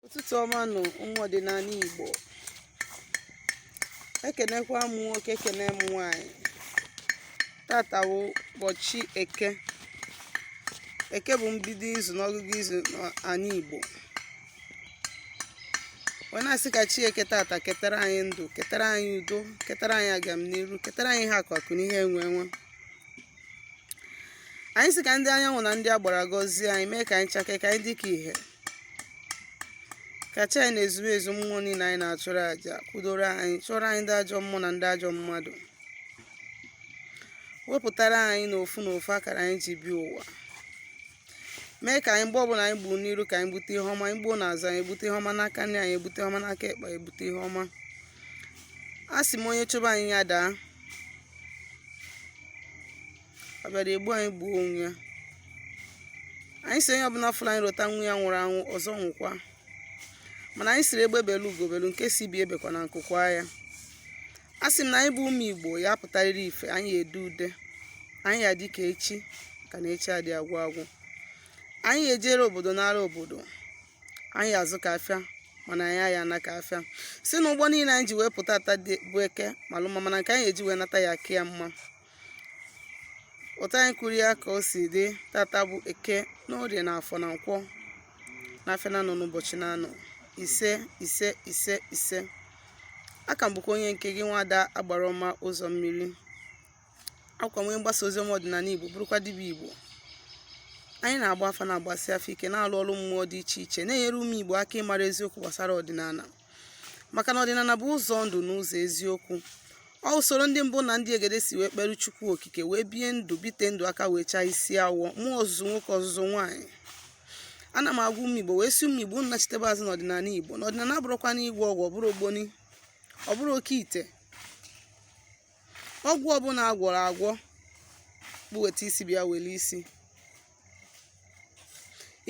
ụtụtụ ọma nụ ụmụ ọdịnala Igbo ekenekwa m nwoke ekene m nwanyị tata bụ ụbọchị eke eke bụ mbido izu n'ọgụgụ izu n'ala Igbo wee na-asị ka chi eke tata ketara anyị ndụ ketara anyị udo ketara anyị agamniru ketara anyị ihe akụ akụ na ihe enwe enwe anyị sị ka ndị anyanwụ na ndị agbara gọzie anyị mee ka anyị chake ka anyị dị ka ihe ka chi anyị na ezumezu mmụọ niile anyị na-achụrụ aja kwudoro anyị chụọrọ anyị ndị ajọ mmụọ na ndị ajọ mmadụ wepụtara anyị n'ofu n'ofu akara anyị ji bịa ụwa mee ka anyị mgbe ọbụla anyị gbuo n'iru ka anyị bute ihe ọma anyị gbuo n'azụ anyị ebute ihe ọma n'aka nri anyị ebute ihe ọma n'aka ekpe ebute ihe ọma a sị m onye chụba anyị ya daa ọ bịara egbu anyị gbuo onwe ya anyị sị onye ọbụla fụrụ anyị rota nwa ya nwụrụ anwụ ọzọ nwụkwa mana anyị sịrị egbe belu ugo belu nke sị ibe ya ebekwana nku kwaa ya a sị m na anyị bụ ụmụ igbo ya-apụtarịrị ife anyị edee ude anyị ya-adị ka echi ka na echi adị agwụ agwụ anyị ejere obodo nara obodo anyị azụ ka afịa mana anyị aya ana ka afịa sị na ụgbọ niile anyị ji wee pụta tata bụ eke malụ mma mana nke anyị eji wee nata ya-aka ya mma otu anyị kwuru ya ka o si dị tata bụ eke na orie na afọ na nkwọ na afịa na anọ na ụbọchị na anọ ise ise ise ise a ka m bụkwa onye nke gị nwada agbara ọma ụzọ mmiri akwa onye mgbasa ozi ọma ọdịnala igbo bụrụkwa dibịa igbo anyị na-agba afa na-agbasi afa ike na-alụ ọlụ mmụọ dị iche iche na-enyere ụmụ igbo aka ịmara eziokwu gbasara ọdịnala maka na ọdịnala bụ ụzọ ndụ na ụzọ eziokwu ọ usoro ndị mbụ na ndị egede si wee kpere chukwu okike wee bie ndụ bite ndụ aka wee chaa isi awọ mụọ ozuzu nwoke ozuzu nwaanyị ana m agwa ụmụ igbo wee sị ụmụ igbo nachitebe azụ n'ọdịnala igbo na ọdịnala abụrọkwanụ ịgwọ ọgwụ ọ bụrọ ogboni ọ bụrọ oke ite ọgwụ ọbụla agwọrọ agwọ bụ weta isi bịa were isi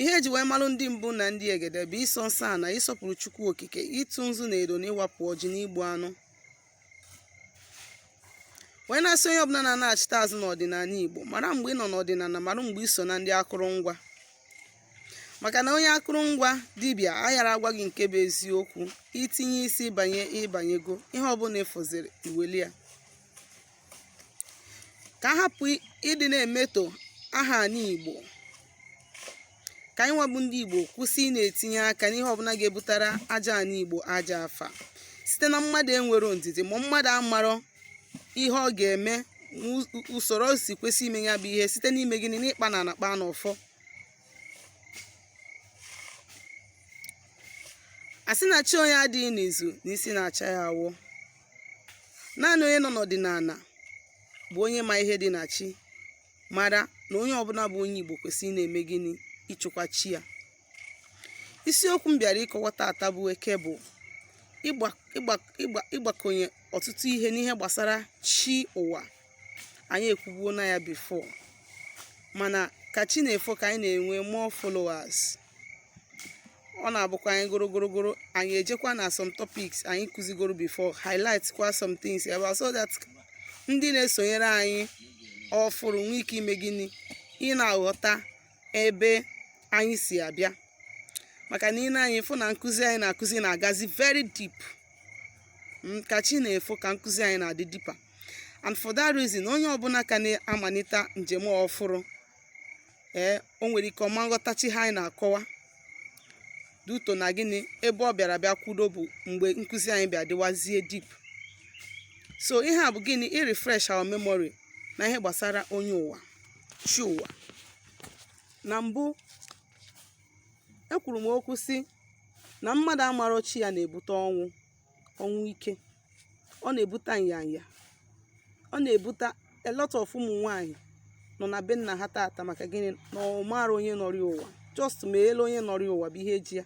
ihe e ji wee malụ ndị mbụ na ndị egede bụ ịsọ nsọ ana ịsọpụrụ chukwu okike ịtụ nzu na edo na ịwapụ ọjị na igbu anụ wee na-asị onye ọbụla na-anaghachite azụ n'ọdịnala igbo mara mgbe ị nọ n'ọdịnala mara mgbe i so na ndị akụrụngwa maka na onye akụrụngwa dibịa ayara agwa gị nke bụ eziokwu i tinye isi banye ị banyego ihe ọbụla ị fụziri i welie ya ka a hapụ ịdị na-emeto aha anyị igbo ka anyị nwa bụ ndị igbo kwụsị ịna-etinye aka n'ihe ọbụla ga-ebutara aja anyị igbo ajọ afa site na mmadụ enwero ndidi ma mmadụ amarọ ihe ọ ga-eme usoro o si kwesị ime ya bụ ihe site n'ime gịnị n'ịkpa na anakpa na ụfọ a sị na chi onye adịghị n'izu na isi na-acha ya awọ naanị onye nọ n'ọdịnala bụ onye ma ihe dị na chi mara na onye ọbụla bụ onye igbo kwesịrị na-eme gịnị ịchụkwa chi ya isiokwu m bịara ịkọwa tata bụ eke bụ ịgbakọnye ọtụtụ ihe n'ihe gbasara chi ụwa anyị ekwubuo na ya before mana ka chi na-efo ka anyị na-enwe more followers ọ na-abụkwa anyị gorogorogoro anyị ejekwa na some topics anyị kụzigoro before highlight kwa some things ebe so that ndị na-esonyere anyị ọfụrụ nwee ike ime gịnị ị na-aghọta ebe anyị si abịa maka na i lee anya ị fụ na nkụzi anyị na-akụzi na-agazi very deep Mm, ka chi na-efo ka nkụzi anyị na-adị deeper and for that reason onye ọbụla ka na-amalite njem ọfụrụ ee o nwere ike ọ ma nghọtacha ihe anyị na-akọwa due to na gịnị ebe ọ bịara bịa kwudo bụ mgbe nkụzi anyị bịa dịwazie deep so ihe a bụ gịnị i refresh our memory na ihe gbasara onye ụwa chi ụwa na mbụ ekwuru m okwu sị na mmadụ amarọ chi ya na-ebute ọnwụ ike ọ na-ebute nyanya ọ na-ebute a lot of ụmụ nwanyị nọ na be nna ha tata maka gịnị na ọ marọ onye nọrọ ya ụwa just ma ele onye nọrọ ya ụwa bụ ihe ji ya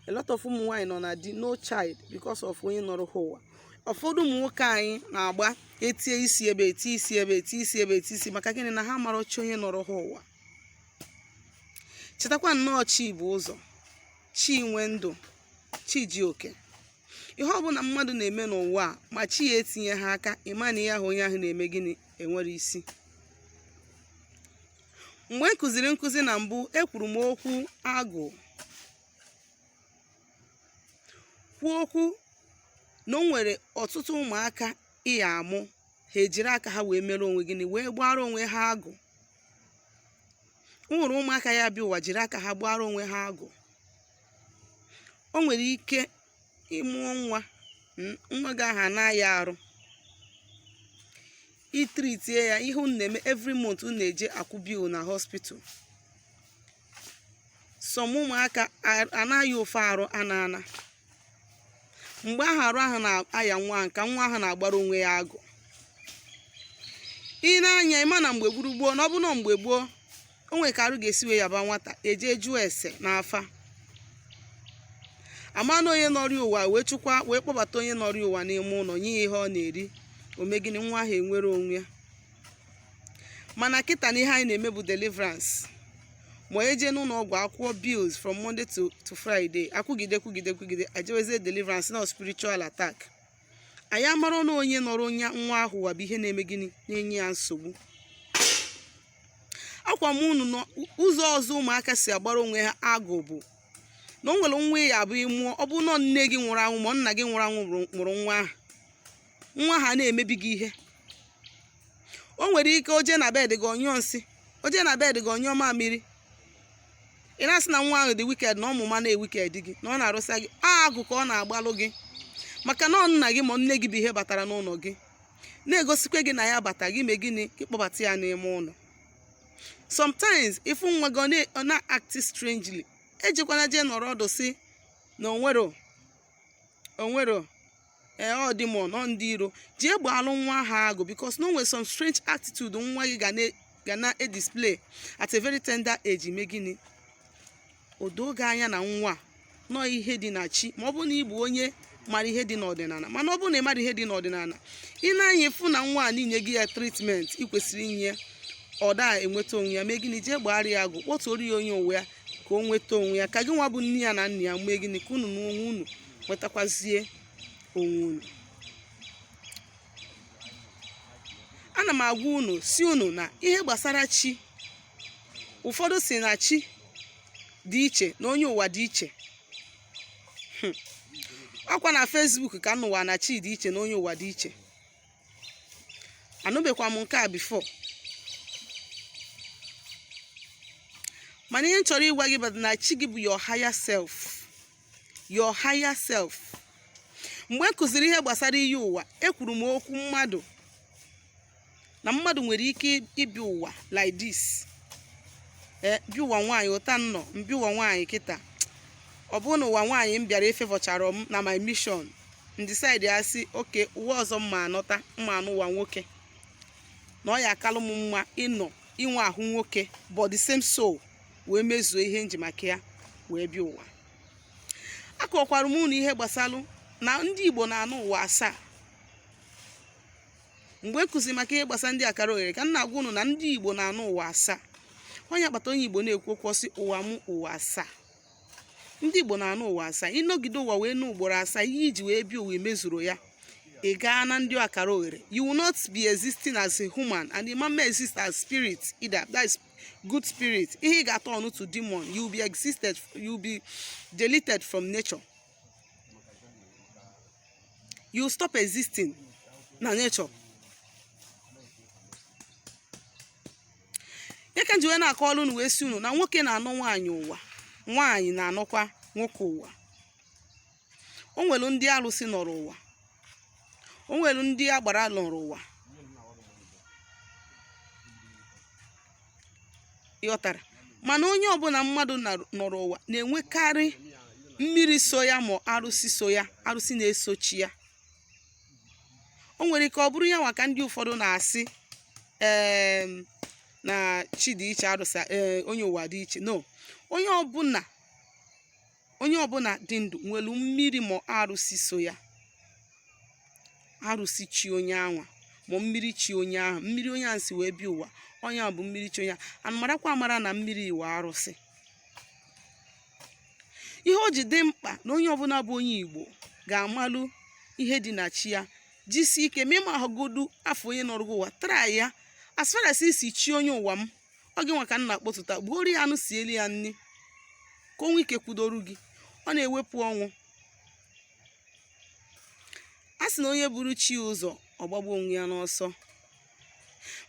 a lot of ụmụ nwaanyị nọ na di no child because of onye nọrọ ha ụwa ụfọdụ ụmụ nwoke anyị na-agba etie isi ebe etie isi ebe etie isi ebe etie isi maka gịnị na ha amarọ chi onye nọrọ ha ụwa chetakwa na ọ chi bu ụzọ chi nwe ndụ chi ji oke ihe ọbụla mmadụ na-eme n'ụwa a ma chi ya etinyeha aka ị ma na ihe ahụ onye ahụ na-eme gịnị enwerọ isi mgbe m kụziri nkụzi na mbụ ekwuru m okwu agụ kwuo okwu na o nwere ọtụtụ ụmụaka ị ya-amụ ha ejiri aka ha wee mere onwe gịnị wee gbara onwe ha agụ o nwere ụmụaka ya-abịa ụwa jiri aka ha gbara onwe ha agụ o nwere ike ị mụọ nwa mm, nwa gị ahụ ana-aya arụ ị treatie ya ihe unu na-eme every month unu na-eje akwụ bill na hospital some ụmụaka a- ana-aya ofe arụ ana ana mgbe ahụ arụ ahụ na-aya nwa ahụ ka nwa ahụ na-agbara onwe ya agụ i nee anya ị ma na mgbe gboo gboo na ọ bụ na mgbe gboo o nwere ka arụ ga-esi wee yaba nwata eje jụọ ese n'afa amara onye nọrọ ụwa wee chụkwa wee kpọbata onye nọrọ ụwa n'ime ụlọ nye ya ihe ọ na-eri o mee gịnị nwa ahụ enwere onwe ya mana kịta na ihe anyị na-eme bụ deliverance ma eje n'ụlọ ọgwụ akwụọ bills from monday to friday akwụgide kwụgide kwụgide ejewezie deliverance na ọ spiritual attack anyị amara na onye nọrọ nwa ahụ ụwa bụ ihe na-eme gịnị na-enye ya nsogbu agwa m unu n'ụzọ ọzọ ụmụaka si agbara onwe ha agụ bụ na o nwere nwa ya abụ ị mụọ ọ bụ na ọ nne gị nwụrụ anwụ ma ọ nna gị nwụrụ anwụ nọrọ nwa ahụ nwa ahụ na-emebi gị ihe o nwere ike o je na bed gị ọ nyụọ nsị o je na bed gị ọ nyụọ mamịrị ị na-asị na nwa ahụ dị wicked na ọ ma ụma na-ewicked gị na ọ na-arụsa gị agụ ka ọ na-agbalụ gị maka na ọ nna gị ma nne gị bụ ihe batara n'ụlọ gị na-egosikwa gị na ya bata gị mee gịnị gị kpọbata ya n'ime ụlọ sometimes ị fụ nwa gị ọ na-act strangely ejekwana jee nọrọ ọdụ sị na o nwerọ o nwerọ ee ọ demon ọ ndị iro jee gbaalụ nwa ahụ agụ because na o nwere some strange attitude nwa gị ga na- ga na-edisplay at a very tender age i mee gịnị o doo gị anya na nwa a, na ọ ihe dị na chi ma ọ bụrụ na ị bụ onye mara ihe dị n'ọdịnala mana ọ bụrụ na ị mara ihe dị n'ọdịnala ị na-aya afụ na nwa a na i nyeghị ya treatment ị kwesịrị inye ya ọ da enweta onwe ya mee gịnị jee gbara ya agụ kpọtụrụ ya onye ụwa ya ka o nweta onwe ya ka gịnwa bụ nne ya na nna ya mee gịnị ka unu n'onwe unu nwetakwazie onwe unu ana m agwa unu sị unu na ihe gbasara chi ụfọdụ sị na chi dị iche na onye ụwa dị iche Hmm. ọ kwa na Facebook ka m nụwa na chi dị iche na onye ụwa dị iche anụbekwa m nke a before mana ihe m chọrọ ịgwa gị bụ na chi gị bụ your higher self your higher self mgbe m kụziri ihe gbasara iyi ụwa ekwuru m okwu mmadụ na mmadụ nwere ike ịbịa ụwa like this ee eh, m bịa ụwa nwaanyị otu a m nọ m bịa ụwa nwaanyị kịta ọ bụrụ na ụwa nwaanyị m bịara efavourcharọ m na my mission m decide ya sị okay ụwa ọzọ m ma anọta m ma anọ ụwa nwoke na ọ ya akalụ m mma ịnọ inwe ahụ nwoke but the same soul wee mezuo ihe m ji maka ya wee bịa ụwa akọkwara m unu ihe gbasalụ na ndị igbo na-anọ ụwa asaa mgbe m kụzi maka ihe gbasara ndị akara oghere ka m na-agwa unu na ndị igbo na-anọ ụwa asaa ọ ya kpata onye igbo na-ekwu okwu ọ sị ụwa m ụwa asaa ndị igbo na-anọ ụwa asaa ị nọgide ụwa wee nọ ugboro asaa ihe i ji wee bịa ụwa i mezurọ ya ị gaa na ndị akara oghere you will not be existing as a human and you may exist as spirit either that is good spirit ihe ị ga-atọnụ to demon you will be existed you will be deleted from nature you will stop existing na nature ya ka m ji wee na-akọọrụ unu wee sị unu na nwoke na-anọ nwaanyị ụwa nwaanyị na-anọkwa nwoke ụwa o nwere ndị arụsị nọrọ ụwa o nwere ndị agbara nọrọ ụwa ị ghọtara mana onye ọbụna mmadụ na- nọrọ ụwa na-enwekarị mmiri so ya ma arụsị so ya arụsị na-eso chi ya o nwere ike ọ bụrụ ya nwa ka ndị ụfọdụ na-asị em, na chi dị iche arụsị ee, onye ụwa dị iche no onye ọbụna onye ọbụna dị ndụ nwere mmiri ma arụsị so ya arụsị chi onye anwa ma mmiri chi onye ahụ mmiri onye ahụ si wee bịa ụwa ọ nya bụ mmiri chi onye anwa marakwa amara na mmiri nwe arụsị ihe o ji dị mkpa na onye ọbụna bụ onye igbo ga-amalụ ihe dị na chi ya jisi ike ma ị ma ahụgodu afụ onye nọrọ gị ụwa ị ghọtara ya as far as ị sị chi onye ụwa m ọ gị nwa ka m na-akpọtụta gbuoro ya anụ sieli ya nni ka o nwee ike kwudoru gị ọ na-ewepụ ọnwụ a sị na onye buru chi ụzọ ọ gbagbuo onwe ya n'ọsọ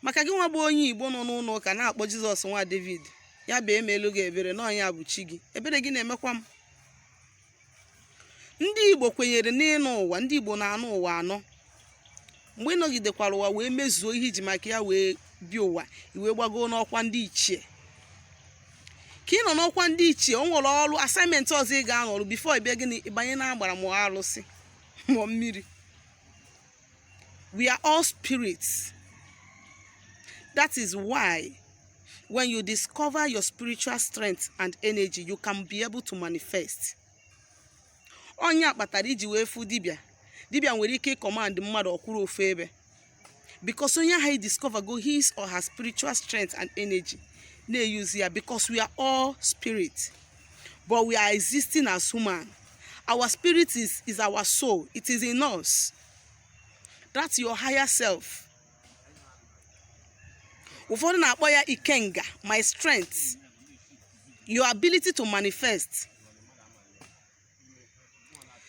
maka gị nwa bụ onye igbo nọ n'ụnọ ụka na-akpọ jizọs nwa david ya bịa meelu gị ebere na ọ nya bụ chi gị ebere gị na-emekwa m ndị igbo kwenyere n'ịnọ ụwa ndị igbo na-anọ ụwa anọ mgbe ị nọgidekwara ụwa wee mezuo ihe i ji maka ya wee bịa ụwa i wee gbago n'ọkwa ndị ichie ka ị nọ n'ọkwa ndị ichie o nwere ọrụ assignment ọzọ ị ga-anọ rụọ before ị bịa gịnị ị banye na agbara ma arụsị ma mmiri we are all spirits that is why when you discover your spiritual strength and energy you can be able to manifest ọ nya kpatara i ji wee fụ dibịa dibịa nwere ike ịkọmand mmadụ ọ kwụrụ ofu ebe because onye ahụ adiscovergo his or her spiritual strength and energy na-eyuzi ya because we are all spirit but we are existing as human our spirit is, is our soul it is in us that's your higher self ụfọdụ na-akpọ ya ikenga my strength your ability to manifest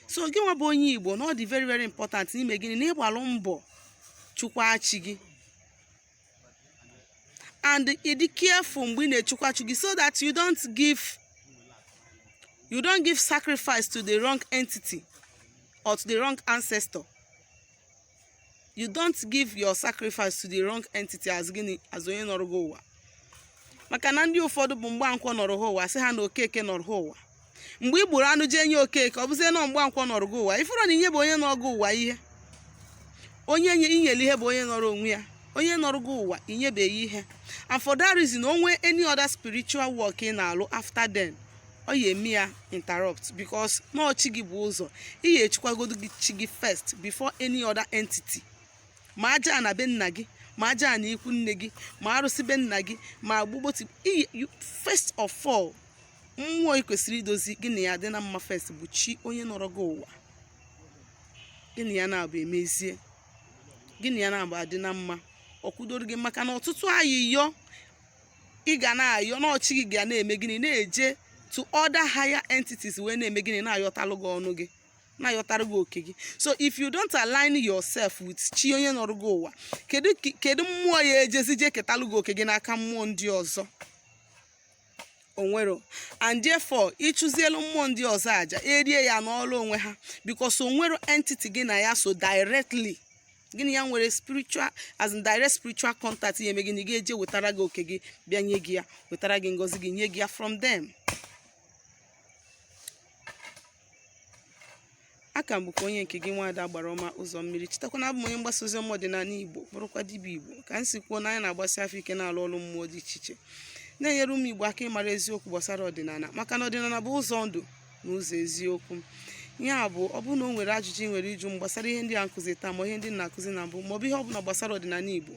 so gị nwa bụ onye igbo na ọ dị very very important na i mee gịnị na ị gbalụ mbọ chọkwaa chi gị and ịdị careful mgbe ị na-echikwa chi gị so that you don't give you don't give sacrifice to the wrong entity or to the wrong ancestor you don't give your sacrifice to the wrong entity as gịnị as onye nọrọ gị ụwa maka na ndị ụfọdụ bụ mgbankwọ nọrọ ha ụwa sị ha na okeke nọrọ ha ụwa mgbe i gburu anụ jee nye okeke ọ bụzie na mgbankwọ nọrọ gị ụwa ị fụrụ na inyebeghị onye nọrọ gị ụwa ihe onye nye i nyere ihe bụ onye nọrọ onwe ya onye nọrọ gị ụwa inyebeghị ihe and for that reason o nwee any other spiritual work ị na-alụ after then ọ ya eme ya interrupt because na ọ chi gị bu ụzọ ị ya echikwagodo gị chi gị first before any other entity ma ajana be nna gị ma ajana ikwu nne gị ma arụsị be nna gị ma agwụ gị but first of all mmụọ ị kwesịrị idozi gị na ya dị na mma first bụ chi onye nọrọ gị ụwa gị na ya naabọ emezie gị na ya naabọ adị na mma ọ kwudoro gị maka na ọtụtụ ayịyọ ị ga na-ayọ na ọ chi gị ga na-eme gịnị na-eje to other higher entities wee na-eme gịnị na-ayọtalụ gị ọnụ gị na-ayọtara gị oke gị so if you don't align yourself with chi onye nọrọ gị ụwa kedu kedu mmụọ ya ejezi je ketalụ gị oke gị n'aka mmụọ ndị ọzọ o nwero and therefore ị chụzielu mmụọ ndị ọzọ aja erie ya nọrọ onwe ha because o nwero entity gị na ya so directly gị na ya nwere spiritual as in direct spiritual contact ya eme gịnị ga-eje wetara gị oke gị bịa nye gị ya wetara gị ngọzi gị nye gị ya from them aka m bụkwa onye nke gị nwaada agbara ọma ụzọ mmiri chetakwa na abụ m onye mgbasa ozi ọma ọdịnala igbo bụrụkwa dibịa igbo ka m si kwuo na anyị na-agbasi afa ike na-alụ ọrụ mmụọ dị iche iche na-enyere ụmụ igbo aka ịmara eziokwu gbasara ọdịnala maka na ọdịnala bụ ụzọ ndụ na ụzọ eziokwu ya bụ ọ bụrụ na o nwere ajụjụ ị nwere ịjụ m gbasara ihe ndị a m kụziri taa ma ihe ndị m kụziri na mbụ maọbụ ihe ọ bụla gbasara ọdịnala igbo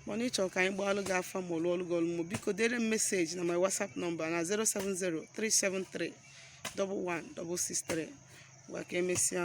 mana ị chọrọ ka anyị gbaalụ gị afa ma ọ lụọlụ gị ọlụ mmụọ biko dere m meseji na my whatsapp nọmba na 070 373 1163 ngwa ka emesịa